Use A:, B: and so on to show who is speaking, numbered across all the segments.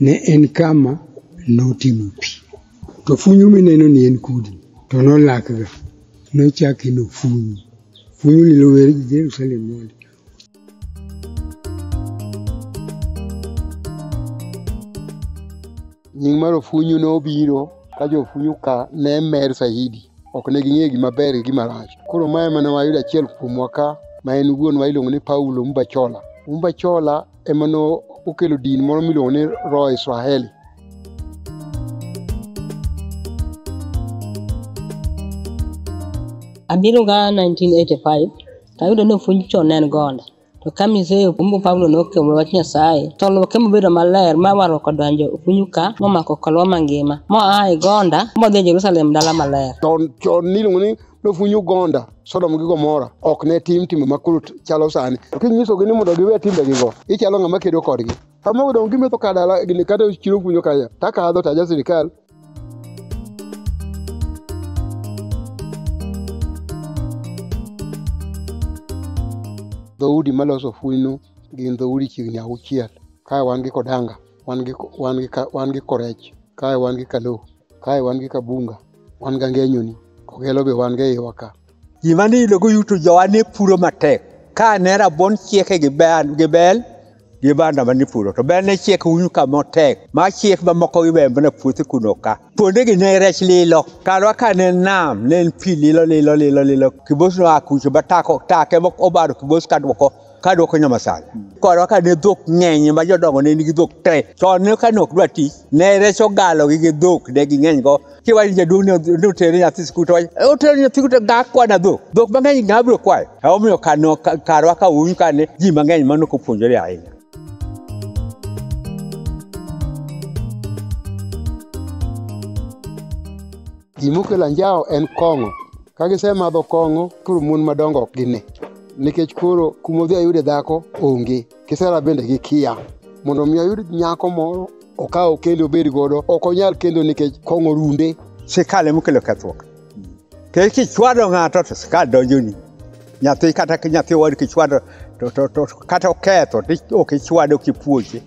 A: ne en kama notimo pi. To funyu mineno ni en kudi, to nolakga, nochake no funyu. Funyu ni lower gi Jerusalem mondi.
B: Nying mar ofunyu nobiro ka jofunyu ka ne mer saidi. Ok ne ging'eyo gima ber gi gima rach. Koro ma ema ne wayudo achiel kuomwa ka ma en wuonwa iluongo ni Paulo Mbachola. Mbachola ema ne okelo din moro miluongo ni Roho Israeli.
C: Abiro ga 1985 to ayudo ni ofuny chon en gonda to ka mise kumbu Paulo nokelo wach Nyasaye to luoke mobedo maler ma warruok odonjo ofunyu ka momako kolwa mangima moa e gonda modhi e Jerusalem dala maler. Chon chon niluongo ni
B: nofunyo gonda sodom gi gomora ok ne tim timbe ma koro chalo sani kinyisogi ni mondo giwe timbegigo ichalo ng'ama kedo kodgi kama odong' gimetho ka dala gini kata chiro kunyo kaya takadho to aja sirikal dhoudi maloso funyno gin dhoudi chiegni auchiel kae wan gi kodanga wan gi, wan gi, wan gi korech kae wan gi kalo kae wan gi kabunga wan ga ngenyoni kogelo be wan ga iwa ka gima niyudo
D: goyuto jowa ne puro matek ka ne rabuon chieke gi bel gi bel gi banda ma nipuro to bel ne chiek unyu kama tek ma chiek mamoko gi bembe na puothe kuno ka kuonde gi ne rech lilo karwa ka ne nam ne en pi lilo lilo lilo lilo kibos no akucho batako take mok obaro kibos ka dwoko ka dwoko nyoma sana korwa ka ne dhok ng'eny ma jodongo ne nigi dhok te to ne ka ne ok dwa tich ne reso galo gi gi dhok ne ging'eny go kiwacho ni jaduong' ni- ni otere nyathi sikul to wacho "Eh, otere nyathi sikul to ga kwana dhok dhok mang'eny ng'a biro kwayo emomiyo kano- ka- karwa ka un ka ne ji mang'eny mano kopuonjore ahinya
B: Gima okelo anjawo en kong'o. Ka gisemadho kong'o, koro mon madongo ok gine. Nikech koro kuma odhi ayude dhako onge. Kisera bende gikiya. Mondo mi ayud nyako moro okaw kendo obed godo, ok onyal kendo nikech kong'o runde. Sirkal ema okelo
D: kethruok. Nikech kichwado ng'ato to sirkal donjoni. Nyathi kata nyathi wadu kichwado to kata oketho to ok ichwado kipuonje.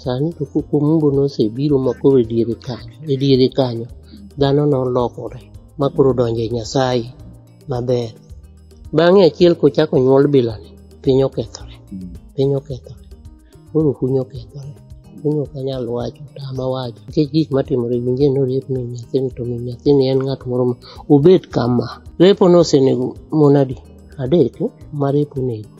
D: Sani to
E: koko mumbo nosebiro ma koro e diere kanyo, e diere kanyo dhano nolokore ma koro donjo e Nyasaye maber. Bang'e achiel kochako nyuol bilani, piny okethore, piny okethore. Koro kuny okethore, kuny ok anyal wacho, tama wacho. Nikech gik matimore winje ni oriep min nyathini to min nyathini en ng'at moro ma obet kama. Repo nosenego mon adi? Adek eh, ma repo onego.